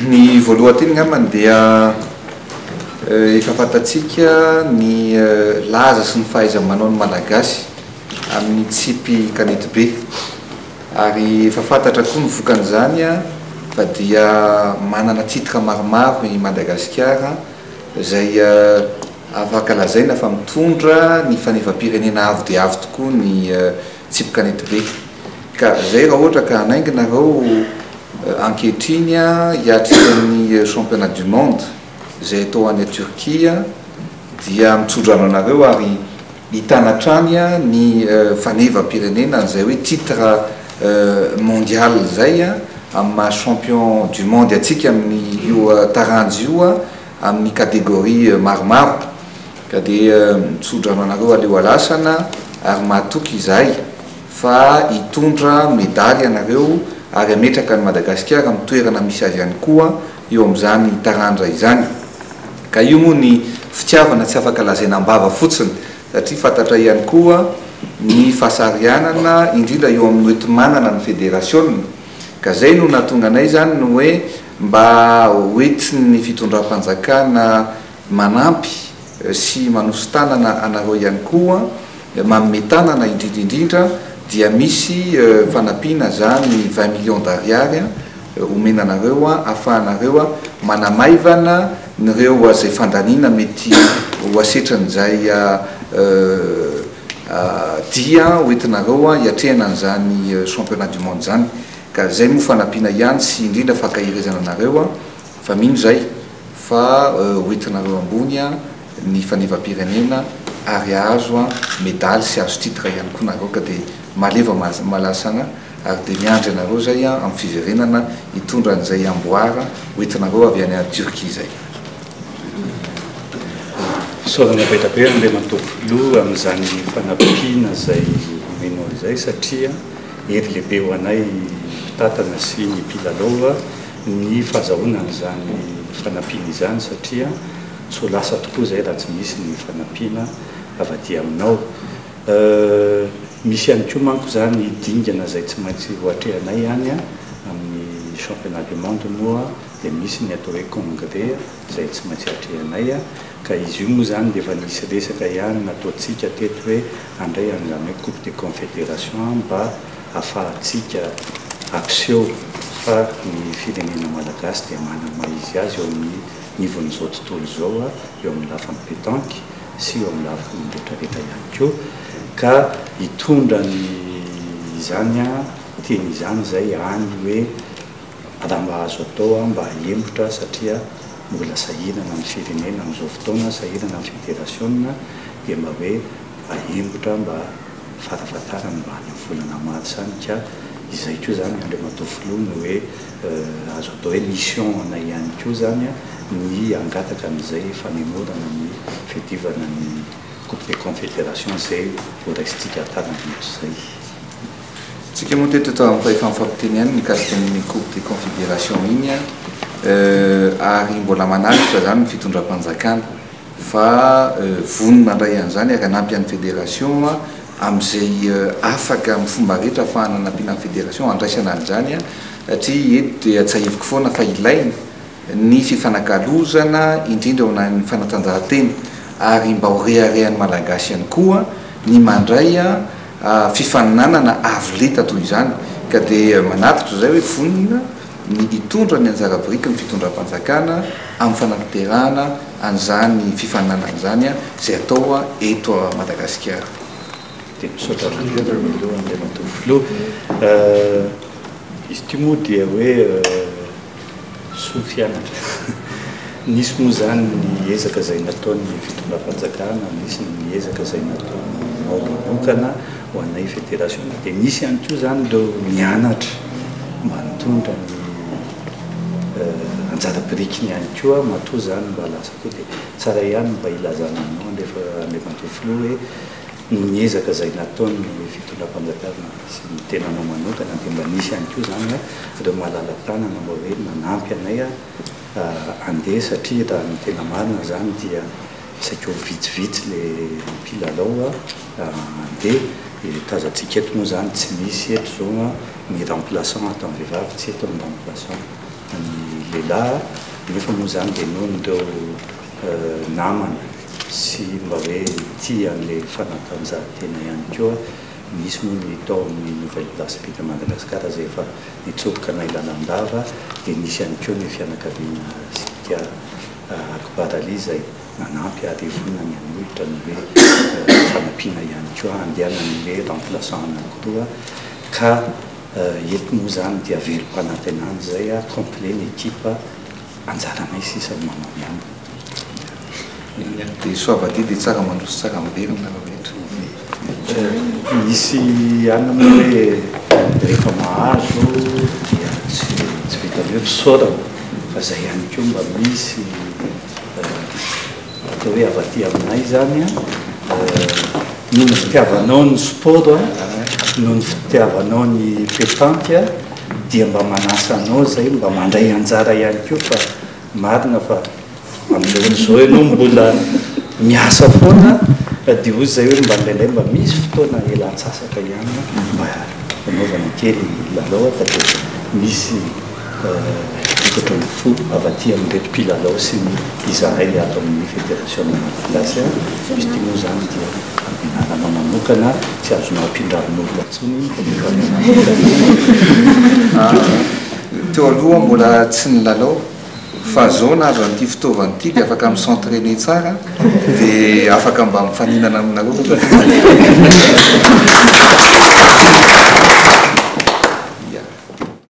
Ny voalohan-teny angambany dia efa fantatsika ny laza sy ny fahaiza-manaon'ny Malagasy amin'ny tsipy kanety be ary efa fantatra koa ny vokan'izany fa dia manana titre maromaro i Madagasikara izay Afaka lazaina fa mitondra ny fanefam-pirenena avo dia avo tokoa ny tsipy kanetibe. Ka izay raha ohatra ka hanainga nareo ankehitriny hiatrika ny championnat du monde izay atao any Turquie dia mitsodrano anareo ary hitana hatrany ny fanevampirenena izay hoe titre mondial izay amin'ny maha champion du monde antsika amin'io taranja io amin'ny catégorie maromaro ka dia mitsodrano anareo haleo halasana ary mahatoky izahay fa hitondra medaly ianareo ary hametraka an'i Madagasikara amin'ny toerana misy azy ihany koa eo amin'izany taranja izany ka io moa ny fitiavana tsy afaka lazaina am-bava fotsiny satria fantatra ihany koa ny fahasarihanana indrindra eo amin'ny hoenti-manana ny federasiona ka izay no nahatonga anay izany ny hoe Mba hoentin'ny fitondram-panjakana manampy sy manoso-tanana anareo ihany koa, manome tanana indrindra indrindra dia misy fanampiana izany vingt millions d'ariary omena anareo ahafahanareo manamaivana ireo izay fandaniana mety ho asetran'izay dia hoentinareo hiatrehana an'izany championnat du monde izany. Ka zay moa fanampiana ihany sy indrindra fankaherezana anareo an! Fa mino zay fa ho entinareo ambony an ny fanevampirenena ary hahazo an medaly sy hahazo titre ihany koa nareo ka dia maleva malasana ary dia miandry anareo zay an amin'ny fiverenana hitondra an'izay amboara ho entinareo avy any Turquie zay. Fisaorana be da be Andriamatoa Filoha amin'izany fanampiana izay omenao izay satria. Hery lehibe ho anay mpitantana sy ny mpilalao ny fahazahoana an'izany fanampiana izany satria tsy ho lasa tokoa izay raha tsy misy ny fanampiana avy aty aminao. Misy ihany koa manko izany dingana izay tsy maintsy ho atrehanay any amin'ny championnat du monde moa dia misy ny atao hoe congrès. izay tsy maintsy atrehinay a! ka izy io moa izany dia efa nisy resaka ihany nataontsika teto hoe handray an'izany hoe coupe des confédérations mba hahafahantsika hampiseho fa ny firenena malagasy dia manana ny maha izy azy eo amin'ny nivon'izao tontolo izao a! eo amin'ny lafiny pétanque sy eo amin'ny lafiny retraretra ihany koa ka hitondra ny izany a! teny izany izay any hoe Angamba azo atao mba hahemotra satria mbola sahirana ny firenena amin'izao fotoana, sahirana ny federasiona dia mba hoe ahemotra mba farafahatarany mba any amin'ny volana marsa any ka izay koa izany Andriamatoa Filoha no hoe azo atao hoe mission anay ihany koa izany ny hangataka an'izay fanemorana ny fiadivana ny Coupe des Confédérations izay ho raisintsika hatarany hatrizay. Tsika moa teto eto amin'ny fahefany fampiteny ihany mikasika an'iny coupe des confédérations iny ary mbola manaritra izany ny fitondram-panjakana fa vonona handray an'izany ary hanampy an'ny fédération amin'izay afaka amin'ny fomba rehetra ahafahana hanampiana ny fédération handraisana an'izany satria eto dia tsahiviko foana fa ilaina ny fifanakalozana indrindra eo anan'ny fanatanjahantena ary mba ho reharehan'ny Malagasy ihany koa ny mandray fifaninanana avo lenta toy izany ka dia manatitra izay hoe vonona ny hitondra ny anjara biriky ny fitondram-panjakana amin'ny fanatanterahana an'izany fifaninanana izany izay atao eto Madagasikara. Dia misaotra indrindra voalohany Andriamatoa Filoha. Izy ity moa dia hoe. soa fianatra. Nisy moa izany ny ezaka izay nataon'ny fitondram-panjakana, nisy ny ezaka izay nataonao manokana ho anay federasiona, dia nisy ihany koa izany ireo nianatra mba nitondra ny anjara birikiny ihany koa matoa izany mba lasa koa dia tsara ihany ny mba hilazana anao Andriamatoa Filoha hoe noho ny ezaka izay nataon'ny fitondram-panjakana sy ny tenanao manokana dia mba nisy ihany koa izany ireo malala-tanana mba hoe nanampy anay handeha satria raha ny tena marina izany dia saika ho vitsivitsy ilay mpilalao handeha dia tazantsika eto moa izany tsy misy eto izao ny remplaçant ataon'ny vehivavy tsy eto ny remplaçant an'ny lehilahy nefa moa izany dia noho ireo namana sy mba hoe tia an'ilay fanatanjahantena ihany koa. Misy moa ny tao amin'ny Nouvelle Place Beat à Madagascar izay efa nitsoboka anay lalandava dia nisy ihany koa ny fianakaviana Sibika Akbar Ali izay nanampy ary io foana ny hanolotra ny hoe fanampiana ihany koa handehanan'ny hoe remplaçant anako roa ka eto moa izany dia velom-panantenana izay complet ny équipe Anjaranay sisa ny manao ny ambiny. Dia soa vadiha dia tsara mandroso tsara miverina nareo rehetra. Misy alina moa hoe rehefa mahazo dia tsy vitan'ny hoe fisaorana fa izay ihany koa mba misy. Atao hoe avy aty aminay izany an, noho ny fitiavanao ny sport an, noho ny fitiavanao ny petanque an, dia mba manasa anao izay mba mandray anjara ihany koa fa marina fa amin'izao fotoana izao ianao mbola miasa foana an, dia hoy izay hoe mba indraindray mba misy fotoana iala antsasaka ihany an, mba hanaovana kely lalao an fa dia misy efatra ambin'ny folo avy aty amin'ireto mpilalao sy ny izahay ato amin'ny Federasiona Malagasy an! izy ity moa izany dia anarana manokana tsy azonao ampindrarin'olona intsony ny Federasiona. Teo aloha mbola tsy nilalao fa izao na avy amin'ity fitaovana ity dia afaka mi s'entrainer tsara dia afaka mba mifaninana aminareo koa koa.